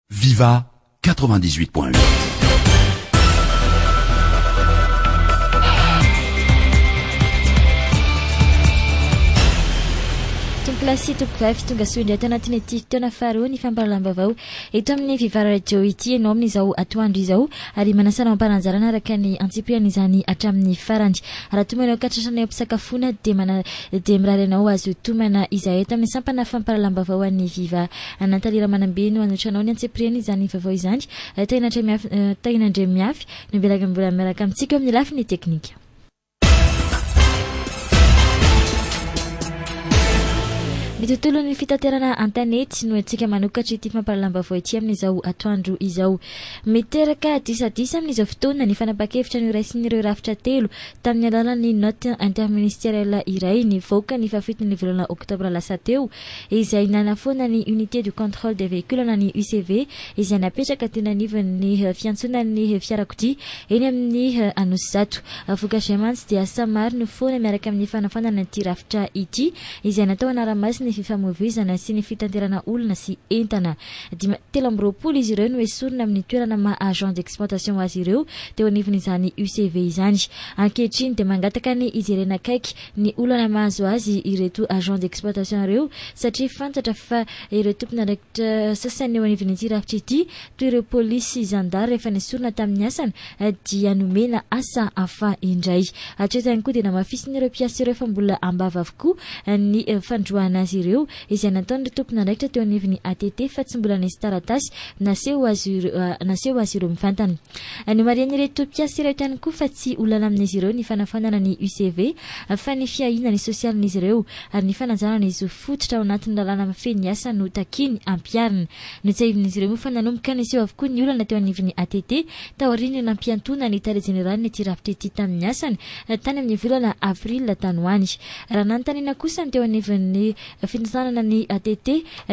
Viva 98.8 Plasy Topkay fitonga soa indray tao anatin'ny ity fotoana faharoa ny fampahalalam-baovao eto amin'ny Vivara Radio ity ianao amin'izao atoandro izao ary manasana mamparanjarana araka ny antsipihany izany hatramin'ny farany raha toa manao katratrana eo am-pisakafoana dia mana dia mirary ianao azo tomana izay eto amin'ny sampana fampahalalam-baovao an'ny Viva Anantale Ramanambe no anotranao ny antsipiriany izany vaovao izany. Tahiana Andriamiafy no belagy mbola miaraka amintsika eo amin'ny lafiny teknika. Ny tontolon'ny fitaterana an-tanety no antsika manokatra ity fampahalalam-baovao ity amin'izao atoandro izao. Miteraka disadisa amin'izao fotoana ny fanapahan-kevitra noraisin'ireo rafitra telo tamin'ny alalan'ny note interministérielle iray nivoaka ny fahafitony volana oktobra lasa teo izay nanafoana ny Unité de Contrôle des Véhicules na ny UCV izay napetraka teny anivon'ny fiantsonan'ny fiarakodia eny amin'ny Anosizato. Vokatr'izay mantsy dia samy maro ny foana miaraka amin'ny fanafoanana ity rafitra ity izay natao hanara-maso ny fifamoivoizana sy ny fitanterana olona sy entana. Dima, telo amby roapolo izy ireo no esorina amin'ny toerana maha agent d'exploitation azy ireo teo anivon'izany UCV izany. Ankehitriny dia mangataka ny hijerena akaiky ny olana mahazo azy ireto agents d'exploitation ireo satria fantatra fa ireo tompon'andraikitra sasany eo anivon'ity rafitra ity toy ireo polisy sy zandary efa nesorina tamin'ny asany dia nomena asa hafa indray. Hatreto ihany koa dia namafisin'ireo mpiasa ireo fa mbola am-bava avokoa ny fandroahana azy ireo izay nataon'ireo tompon'andraikitra teo anivon'ny ATT fa tsy mbola nisy taratasy naseho azy ireo mivantana. Nomarihan'ireto mpiasa ireto ihany koa fa tsy ho làla amin'izy ireo ny fanafoanana ny UCV fa ny fiahiana ny sosialin'izy ireo ary ny fanajana ny zo fototra ao anatin'ny lalàna mifehy ny asa no takiany hampiharina. Notsiahivin'izy ireo moa fa nanomboka niseho avokoa ny olana teo anivon'ny ATT taorian'ny nampiantoana ny tale jeneralin'ity rafitra ity tamin'ny asany tany amin'ny volana aprila tany ho any. Raha nanontaniana kosa ny teo anivon'ny Fizànana ny ATT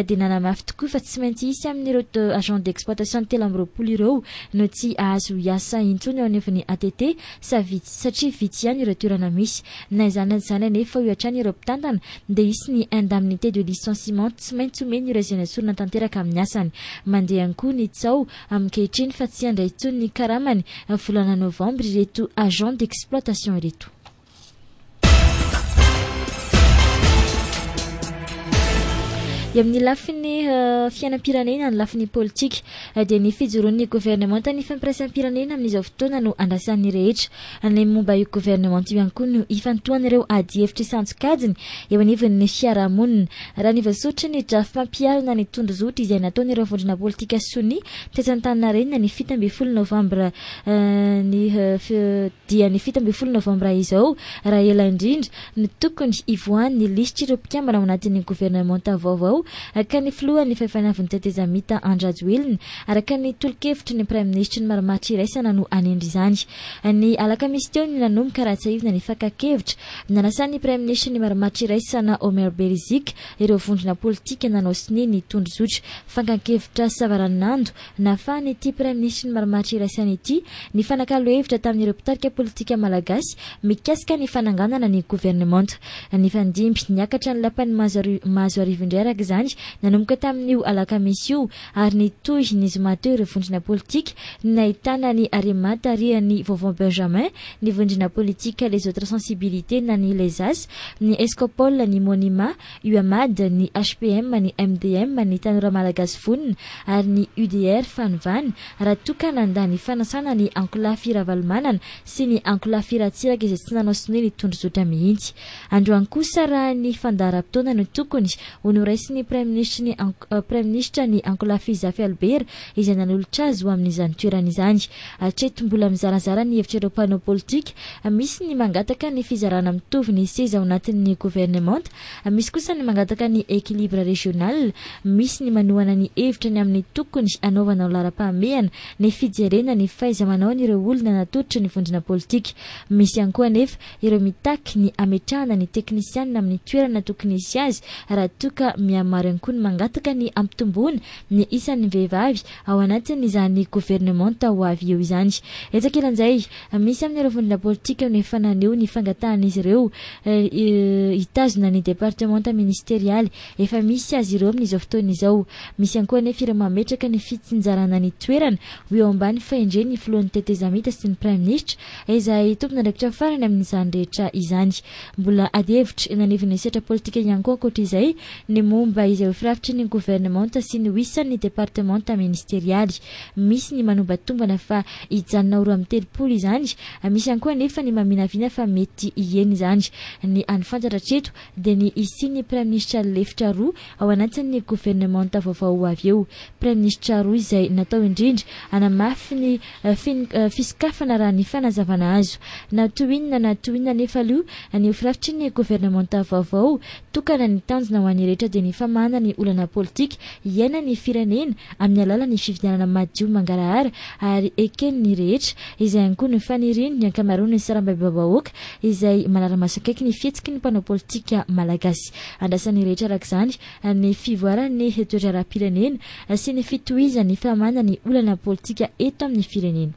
dia nanamafy tokoa fa tsy maintsy hisy amin'ireo agents d'exploitation telo amby roapolo ireo no tsy hahazo hiasa intsony eo anivon'ny ATT sa vitsy satria vitsy ihany ireo toerana misy. Na izany na izany anefa hoy hatrany ireo mpitantana dia hisy ny indemnité de licenciement tsy maintsy omeny ireo izay nesorina tanteraka amin'ny asany. Mandeha ihany koa ny tsaho ankehitriny fa tsy handray intsony ny karamany volana novambra ireto agents d'exploitation ireto. dia amin'ny lafiny eh, fiainam-pirenena ny lafiny politika eh, dia ny fijoron'ny governemanta ny fampiraisam-pirenena amin'izao fotoana no andrasan'ny rehetra an'ilay momba io governemanta io ihany koa no ifantohan'ireo adihevitra isantsokajiny eo anivon'ny fiarahamonina raha ny voasotry ny drafy mampiharana ny tondrozotra izay nataon'ireo vondrona politika sonia tesantaninarenina ny fito ambin'ny folo novambra eh, ny dia ny fito ambin'ny folo novambra izao, raha ela indrindra, no tokony hivoahan'ny lisitr'ireo mpikambana ao anatin'ny governemanta vaovao ka ny filohan'ny fahefanavin'ny tetezamita Andry Rajoelina, araka ny tolo-kevitry ny praiminisitry ny marimaritra iraisana no hanendry izany. Ny alakamisy teo no nanomboka raha tsiahivina ny fakan-kevitra nanasan'ny praiminisitry ny marimaritra iraisana Omer Beriziky ireo vondrona politika nanao sonia ny tondrozotra fankan-kevitra savaranonando Nafahan'ity Praiminisitry ny marimaritra iraisana ity ny fanakalo hevitra tamin'ireo mpitarika politika malagasy mikasika ny fananganana ny governemanta. Nifandimby niakatra ny lapan'i Mahazoarivo indray araka izany nanomboka tamin'io alakamisy io ary nitohy ny zoma teo ireo vondrona politika nahitana ny Arema tarihan'i Vaovao Benjamin, ny vondrona politika Les Autres Sensibilités na ny Lezas, ny Escopol, ny Monima, UMAD, ny HPM, ny MDM, ny Tanora Malagasy Vonona ary ny UDR Fanovana, raha toa ka nandà ny fanasana ny Ankolafy Ravalomanana sy ny Ankolafy Ratsiraka izay tsy nanao sonia ny tondrozotra mihitsy. Androany kosa raha ny fandaharam-potoana no tokony ho noraisin'ny Praiminisitry ny Praiminisitra ny Ankolafy Zafy Albert izay nanolotra azy ho amin'izany toerana izany. Hatreto mbola mizarazara ny hevitra ireo mpanao politika, misy ny mangataka ny fizarana mitovy ny seza ao anatin'ny governemanta, misy kosa ny mangataka ny equilibre régional, misy ny manohana ny hevitra ny amin'ny tokony hanaovana ho laharam-pahamehana ny fijerena ny fahaiza-manaon'ireo olona natolotry ny vondrona politika. Misy ihany koa anefa ireo mitaky ny hametrahana ny teknisianina amin'ny toerana tokony hisy azy raha toa ka mihamaro ihany koa ny mangataka ny hampitomboana ny isan'ny vehivavy ao anatin'izany governemanta ho avy eo izany. Etsy ankilan'izay, misy amin'ireo vondrona politika no efa naneho ny fangatahan'izy ireo hitazona ny departemanta ministerialy efa misy azy ireo amin'izao fotoana izao. Misy ihany koa anefa ireo mametraka ny fitsinjarana ny toerana ho eo ambany fahendren'ny filohan'ny tetezamita sy ny praiminisitra, izay tompon'andraikitra farany amin'izany rehetra izany. Mbola adihevitra eny anivon'ny sehatra politika ihany koa ankoatra izay ny momba izay ho firafitry ny governemanta sy ny ho isan'ny departemanta ministerialy. Misy ny manombatombana fa hijanona ho roa amby telopolo izany, misy ihany koa anefa ny maminavina fa mety hihena izany. Ny hany fantatra hatreto dia ny hisian'ny praiminisitra lefitra roa ao anatin'ny governemanta vaovao ho avy eo, praiminisitra roa izay natao indrindra hanamafy ny fisokafana raha ny fanazavana azo. Na toy inona na toy inona anefa aloha ny ho firafitry ny governemanta vaovao Tokana ny tanjona ho an'ny rehetra dia ny famahana ny olana politika iainan'ny firenena amin'ny alalan'ny fifidianana madio mangarahara ary eken'ny rehetra. Izay ihany koa no fanirian'ny ankamaroan'ny sarambabem-bahoaka izay manara-maso akaiky ny fihetsiky ny mpanao politika malagasy. Andrasan'ny rehetra arak'izany ny fivoaran'ny toe-draharaham-pirenena sy ny fitohizan'ny famahana ny olana politika eto amin'ny firenena.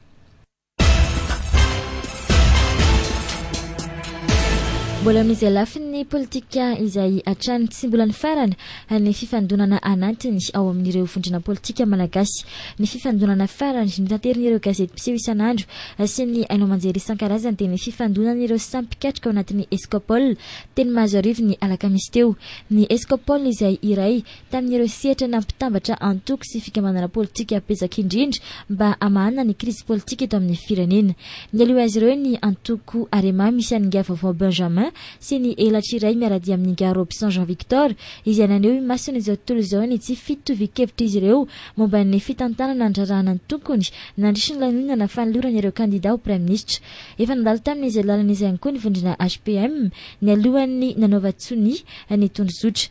Mbola amin'izay lafin'ny politika izay hatrany tsy mbola nifarana ny fifandonana anatiny ao amin'ireo vondrona politika malagasy. Ny fifandonana farany notanterin'ireo gazety mpiseho isan'andro sy ny haino aman-jery isan-karazany dia ny fifandonan'ireo samy mpikatroka ao anatin'ny Escopol teny Mahazoarivo ny alakamisy teo. Ny Escopol izay iray tamin'ireo sehatra nampitambatra antoko sy fikambanana politika betsaka indrindra mba hamahana ny krizy politika eto amin'ny firenena. Nialoha azy ireo ny antoko Arema misy an'ingahy vaovao Benjamin sy ny elatry iray miara-dia amin'ingahy Robson Jean Victor izay naneho imasony izao tontolo izao ny tsy fitovian-kevitr'izy ireo momba ny fitantanana ny raharahan'ny antonkony nandritra ny lanonana fanolorana ireo kandida ho praiminisitra efa nandalo tamin'izay lalana izay ihany koa ny vondrona HPM nialohan'ny nanaovan-tsonia ny tondrozotra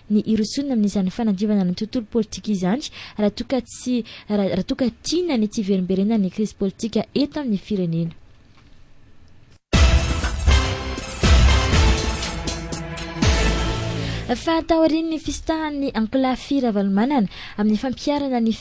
ny hirosoana amin'izany fanadiovana ny tontolo politika izany raha toa ka tsy raha toa ka tiana ny tsy hiverimberenan'ny krizy politika eto amin'ny firenena. Fa taorian'ny fisitahan'ny ankolafy Ravalomanana amin'ny fampiharana ny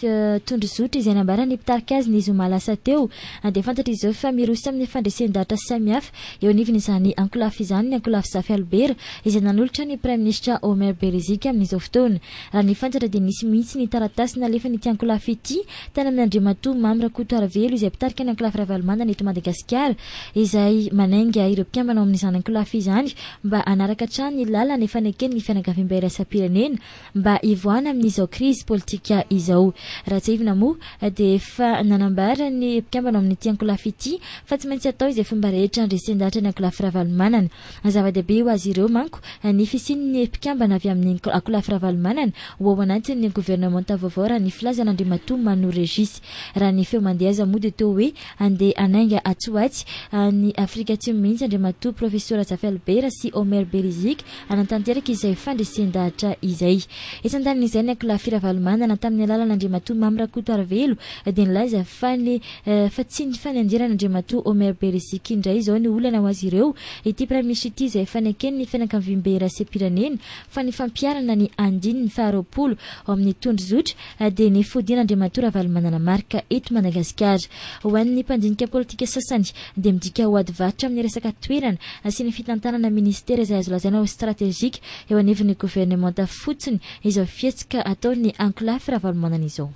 tondrozotra izay nambaran'ny mpitarika azy ny zoma lasa teo dia fantatra izao fa miroso amin'ny fandresen-dahatra samihafa Eo anivon'izany ankolafy izany ny ankolafy Zafy Albert izay nanolotra ny Praiminisitra Omer Beriziky amin'izao fotoana. Raha ny fantatra dia nisy mihitsy ny taratasy nalefan'ity ankolafy ity tany amin'Andriamatoa Mamy Rakotoarivelo izay mpitarika ny ankolafy Ravalomanana eto Madagasikara izay manainga ireo mpikambana ao amin'izany ankolafy izany mba hanaraka hatrany ny lalana efa neken'ny fianakaviam-bairaisam-pirenena mba hivoahana amin'izao krizy politika izao. Ratsiahivina moa dia efa nanambara ny mpikambana ao amin'ity ankolafy ity fa tsy maintsy atao izay fomba rehetra handresen-dahatra ny ankolafy Ravalomanana. Zava-dehibe ho azy ireo manko ny fisian'ny mpikambana avy amin'ny ankolafy Ravalomanana ho ao anatin'ny governemanta vaovao raha ny filazan'Andriamatoa Manu Régis. Raha ny feo mandeha aza moa dia toa hoe handeha hanainga atsy ho atsy any Afrika Atsimo mihitsy Andriamatoa Profesora Jafelbera sy Omer Beriziky hanatanteraka izay fandresen-dahatra izay. Etsy an-danin'izay, ny Ankolafy Ravalomanana, tamin'ny alalan' Andriamatoa Mamy Rakotoarivelo, dia nilaza fa ny fa tsy ny fanenjeran' Andriamatoa Omer Berisika indray izao no olana ho azy ireo ity Praiminisitra ity izay efa neken'ny fianakaviambe iraisem-pirenena fa ny fampiharana ny andininy faharoapolo ao amin'ny tondrozotra dia ny fodian'Andriamatoa Ravalomanana Marc eto Madagasikara. Ho an'ny mpandinika politika sasany dia midika ho ady varotra amin'ny resaka toerana sy ny fitantanana minisitera izay azo lazaina ho stratejika eo anivon'ny governemanta fotsiny izao fihetsika ataon'ny ankolafy Ravalomanana izao.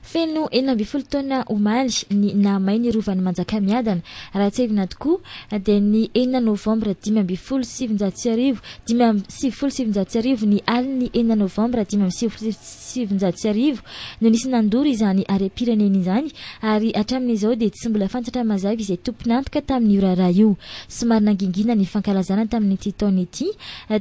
Feno enina ambin'ny folo taona omaly ny nahamay ny Rovan'i Manjakamiadana. Raha tsiahivina tokoa dia ny enina novambra dimy ambin'ny folo sy sivinjato sy arivo, dimy amby sivifolo sy sivinjato sy arivo, ny alin'ny enina novambra dimy amby sivifolo sy sivinjato sy arivo no nisy nandoro izany harem-pirenena izany ary hatramin'izao dia tsy mbola fantatra mazava izay tompon'antoka tamin'io raharaha io. Somary nangingina ny fankalazana tamin'ity taona ity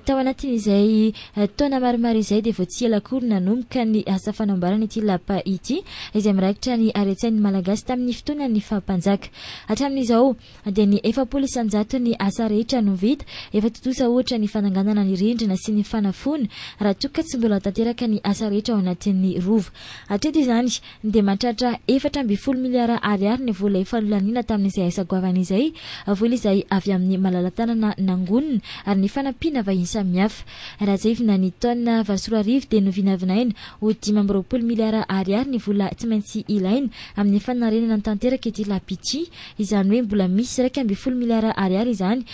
tao anatin'izay Taona maromaro izay dia vao tsy ela akory nanomboka ny asa fanamboarana ity lapa ity izay mirakitra ny haren-tsain'ny Malagasy tamin'ny fotoanan'ny faha-mpanjaka. Hatramin'izao dia ny efapolo isan-jaton'ny asa rehetra no vita. Efa tontosa ohatra ny fananganana ny rindrina sy ny fanafoana raha toa ka tsy mbola tanteraka ny asa rehetra ao anatin'ny Rova hatreto izany. dia mahatratra efatra ambin'ny folo miliara ariary ny vola efa nolaniana tamin'izay asa goavana izay, vola izay avy amin'ny malala-tanana nangonina ary ny fanampiana vahiny samihafa. Raha tsiahivina ny taona valo sy roa arivo dia novinavinaina ho dimy amby roapolo miliara ariary ny vola tsy maintsy ilaina amin'ny fanarenana tanteraka ity Lapichi, izany hoe mbola misy iraika ambin'ny folo miliara ariary izany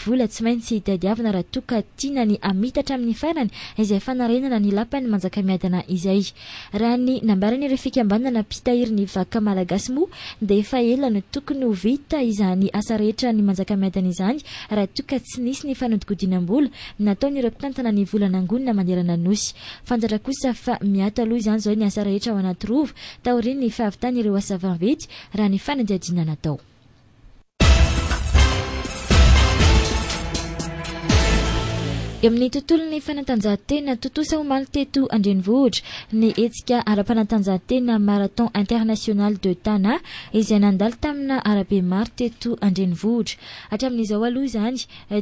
vola tsy maintsy tadiavina raha toa ka tiana ny hamitatra amin'ny farany izay fanarenana ny Lapan'i Manjakamiadana izay. Raha ny nambaran'ireo fikambanana mpitahiry ny vakoka malagasy moa dia efa ela no tokony ho vita izany asa rehetra any Manjakamiadana izany raha toa ka tsy nisy ny fanodikodinam-bola nataon'ireo mpitantana ny vola nangonina manerana ny Nosy. Fantatra kosa fa miato aloha izany izao ny asa rehetra ao Anatirova taorian'ny fahavitan'ireo asa vaventy raha ny fanadihadiana natao. Eo amin'ny tontolon'ny fanatanjahantena, tontosa omaly teto an-drenivohitra ny hetsika ara-panatanjahantena Marathon International de Tana izay nandalo tamina arabe maro teto an-drenivohitra. Hatramin'izao aloha izany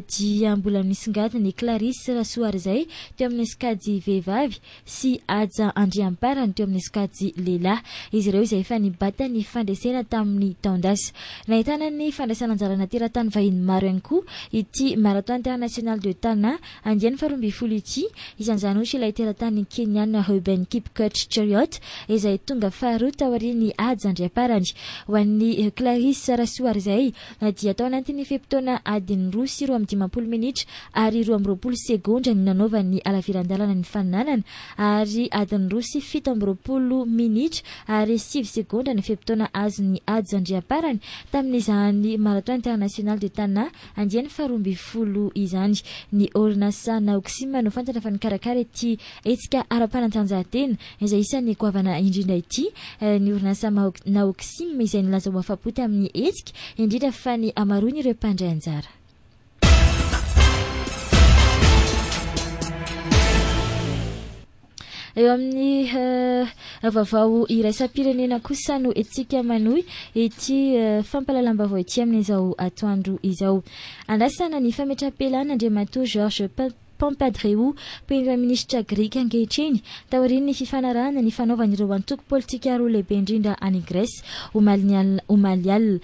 dia mbola misongadina i Clarisse Rasoarizay teo amin'ny sokajy vehivavy sy Haja Andriamparany teo amin'ny sokajy lehilahy, izy ireo izay efa nibata ny fandresena tamin'ny taon-dasa. Nahitana ny fandraisana anjarana teratany vahiny maro ihany koa ity Marathon International de Tana andiany faharoa ambin'ny folo ity, isan'izany ohatra ilay teratany Keniana Reuben Kipkoech Cheruiyot izay tonga faharoa taorian'i Haja Andriamparany. Ho an'i Clarisse Rasoarizay, na dia tao anatin'ny fe-potoana adiny roa sy roa amby dimampolo minitra ary roa amby roapolo segondra no nanaovan'ny halaviran-dalana ny fananana ary adiny roa sy fito amby roapolo minitra ary sivy segondra ny fe-potoana azon'i Hadj Andriamparany tamin'izany Marathon International de Tana andiany faharoa ambin'ny folo izany. Ny orinasa Naoxim no fantatra fa nikarakara ity hetsika ara-panatanjahantena izay isan'ny goavana indrindra ity, ny orinasa Naoxim izay nilaza ho afa-po tamin'ny hetsika, indrindra fa ny hamaroan'ireo mpandray anjara. Eo amin'ny eh, vaovao iraisam-pirenena kosa no etsika manohy ity eh, fampalalam-baovao ity amin'izao atoandro izao. Andrasana ny fametrapelana Andriamatoa Georges Pampandreou, Premraiministra Grika ankehitriny, taorian'ny fifanarahana nifanaovany ireo antoko politika roa lehibe indrindra any Grèce, omalin'ny alina, omaly alina.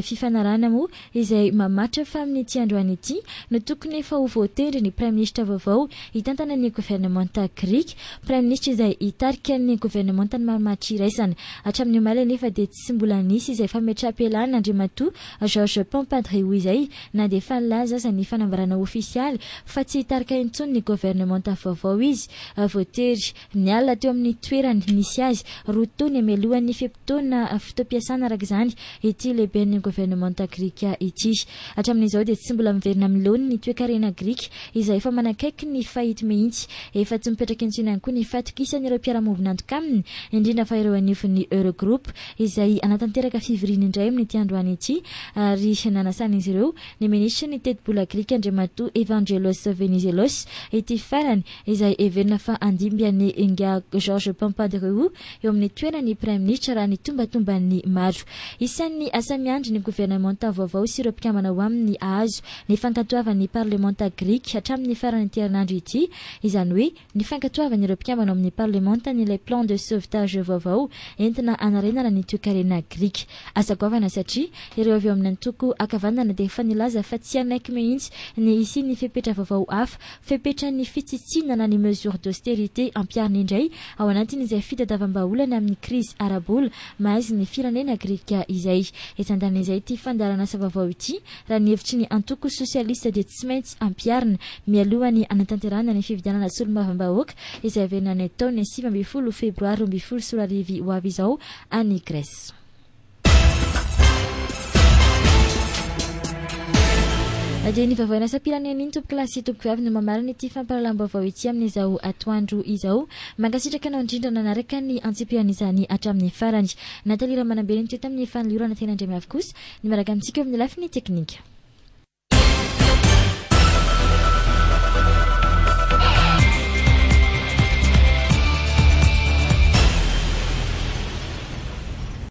Fifanarahana moa izay mamatra fa amin'ity androany ity no tokony efa ho voatendry ny Praiministra vaovao hitantana ny governemanta Grika, Praiministra izay hitarika ny governemantan'i Marimaritra iraisana. Hatramin'ny omaly anefa dia tsy mbola nisy izay fametraham-pialana Andriamatoa Georges Pampandreou izay. na dia efa nilaza aza ny fanambarana ofisialy fa tsy hitarika intsony ny governemanta vaovao izy. Voatery niala teo amin'ny toerany nisy azy roa tony hamelohan'ny fe-potoana fotoam-piasana araka izany ity lehiben'ny governemanta grika ity. Hatramin'izao dia tsy mbola miverina amin'ny laoniny ny toekarena grika izay efa manakaiky ny fahit mihitsy. Efa tsy mipetraka intsony ihany koa ny fahatokisany ireo mpiara-miombon'antoka aminy, indrindra fa ireo anivon'ny Eurogroupe izay hanatanteraka fivoriana indray amin'ity androany ity ary nanasan'izy ireo ny minisitry ny tetibola grika Andriamatoa Evangelos Venizelos ity farany izay heverina fa handimby an'i ingahy Georges Pampandreou eo amin'ny toeran'ny praiminisitra raha ny tombatomban'ny maro. Isan'ny asa miandry ny governemanta vaovao sy ireo mpikambana ao aminy hahazo ny fankatoavan'ny parlemanta grika hatramin'ny faran'ity herinandro ity izany hoe ny fankatoavan'ireo mpikambana ao amin'ny Parlemanta an'ilay plan de sauvetage vaovao entina hanarenana ny toekarena grika. Aza goavana satria ireo avy ao amin'ny antoko ankavanana dia efa nilaza fa tsy hanaiky mihitsy ny hisian'ny fepetra vaovao hafa, fepetran'ny fitsitsiana na ny mesures d'austérité ampiharina indray ao anatin'izay fitadavam-bahaolana amin'ny krizy ara-bola mahaizin'ny firenena grika izay. Etsy andaniny izay ity fandaharan'asa vaovao ity Raha ny hevitry ny antoko sosialista dia tsy maintsy ampiharina, mialoha ny hanatanterahana ny fifidianana solombavambahoaka izay haverina any taona sivy ambin'ny folo febroary roa ambin'ny folo sy roa arivo ho avy izao any Grèce. Na dia iny vaovao iraisampirenena iny tompokolahy sy tompokovavy no mamarana ity fampahalalam-baovao ity amin'izao atoandro izao. Mankasitraka anao indrindra nanaraka ny antsipirian'izany hatramin'ny farany. Nathalie Ramanambe no teto amin'ny fanoliorana teny Andriamiavy kosa. Ny miaraka amintsika eo amin'ny lafiny teknika.